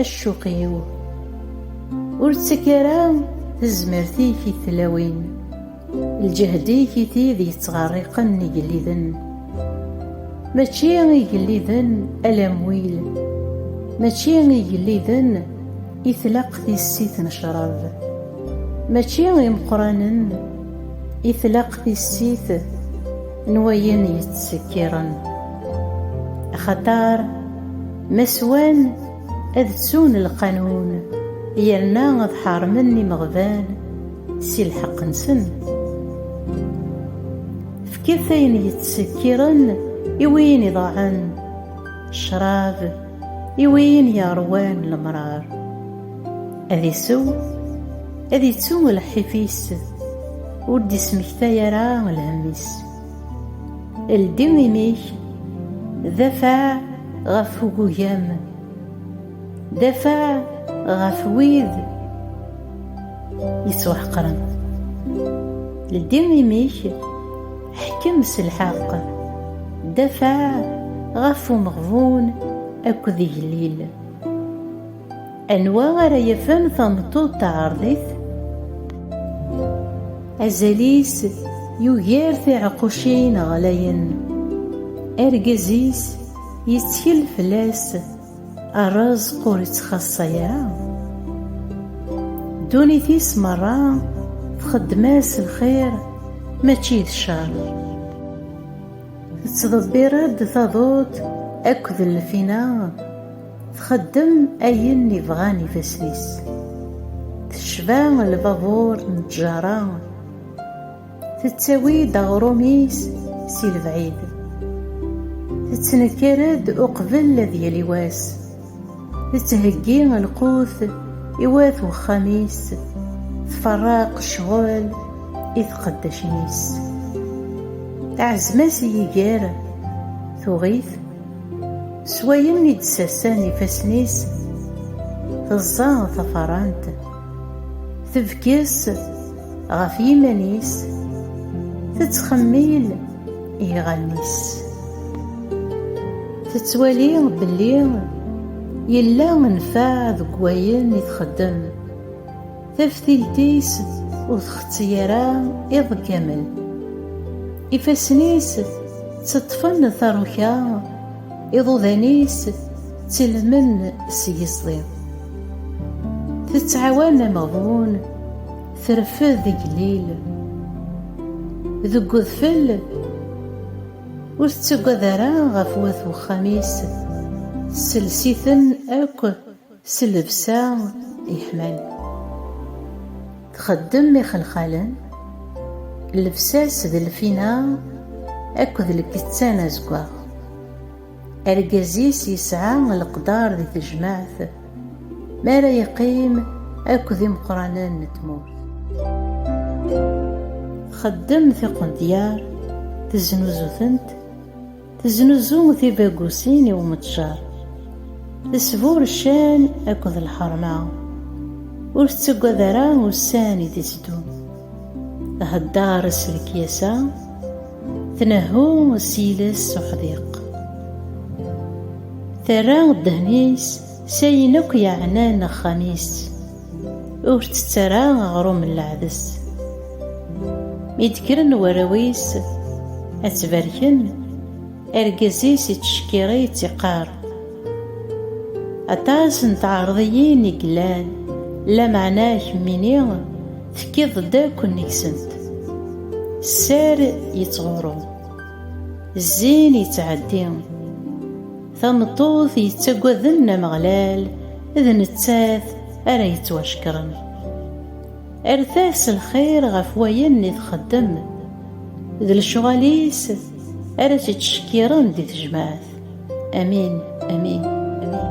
Accuq-iw ur ttak ara tezmert-ik i tlawin, lǧehd-ik i tid yettɣerriqen igelliden. Mačči igelliden a lamwil, mačči igelliden i tlaq tissit n ccrab, mačči imeqqranen i tlaq tissit, n wayen yettsekkiren axaṭer ma swan ad ttun lqanun yerna ad ḥarmen imeɣban si lḥeqq-nsen fket ayen yettsekkiren i win iḍaɛen ccrab I win yeṛwan lemṛaṛ, ad isew, ad ittu lḥif-is, ur d-ismektay ara lhemm-is. Ldi imi-k, d afeɛ ɣef ugugam, d afeɛ ɣef wid yettwaḥeqren. Ldi imi-k. Ḥkem s lḥeqq, dafeɛ ɣef umeɣbun akked igellil. Anwa ara yafen tameṭṭut taɛerḍit? Azal-is yugar tiɛeqqucin ɣlayen. Argaz-is yettkel fell-as. Rrezq ur ittxaṣṣa ara. Ddunit-is merra txeddem-as lxir mačči d ccer. Tettḍebbir-d taḍut akked lfina, txeddem ayen i bɣan ifassen-is. Tecba lbabuṛ n ttjaṛa. Tettawi-d aɣrum-is si lebɛid, tettnekkar-d uqbel ad yali wass, tettheggi lqut i wat wexxam-is, tferreq ccɣel i tqeddacin-is. Ɛezm-as i yiger, tuɣ-it, s wayen i d-ssasen ifassen-is, teẓẓa tafarant, tebges, Ɣef yiman-is tettxemmil iɣallen-is. Tettwali belli yella nnfeɛ deg wayen i txeddem. Taftilt-is ur txetti ara iḍ kamel. Ifassen-is tteṭṭfen taruka. Iḍudan-is ttilmen s yiẓḍi. Tettɛawan ameɣbun, terfed igellil. Deg udfel, ur tettagad ara ɣef wat wexxam-is, tessels-iten akk. S llebsa yeḥman. Txeddem ixelxalen, llebsa-s d lfina akked lkettan azeggaɣ. Argaz-is yesɛa leqder di tejmaɛt mi ara yeqqim akked imeqqranen n tmurt. Txeddem tiqendyar, teznuzu-tent. Teznuzu tibagusin i umetjar. Tesbur ccan akked lḥerma. Ur tettagad ara ussan i d-itteddun. Thedder s lekyasa, tnehhu s yiles s uḥdiq. Terra ddehn-is s ayen akk yeɛnan axxam-is. Ur ttett ara aɣrum n leɛdes. Mi d-kkren warraw-is ad tt-barken, argaz-is ittcekkiṛ-itt iqqaṛ, Aṭas n tɛerḍiyin i yellan, lameɛna kemmini tekkiḍ-d akk nnig-sent. Sser yettɣuṛṛu, zzin yettɛeddi. Tameṭṭut yettaggaden Ameɣlal, d nettat ara yettwacekren. Erret-as lxir ɣef wayen i txeddem, d lecɣal-is ara tt-ittcekkiren di tejmaɛt. Amin, amin, amin.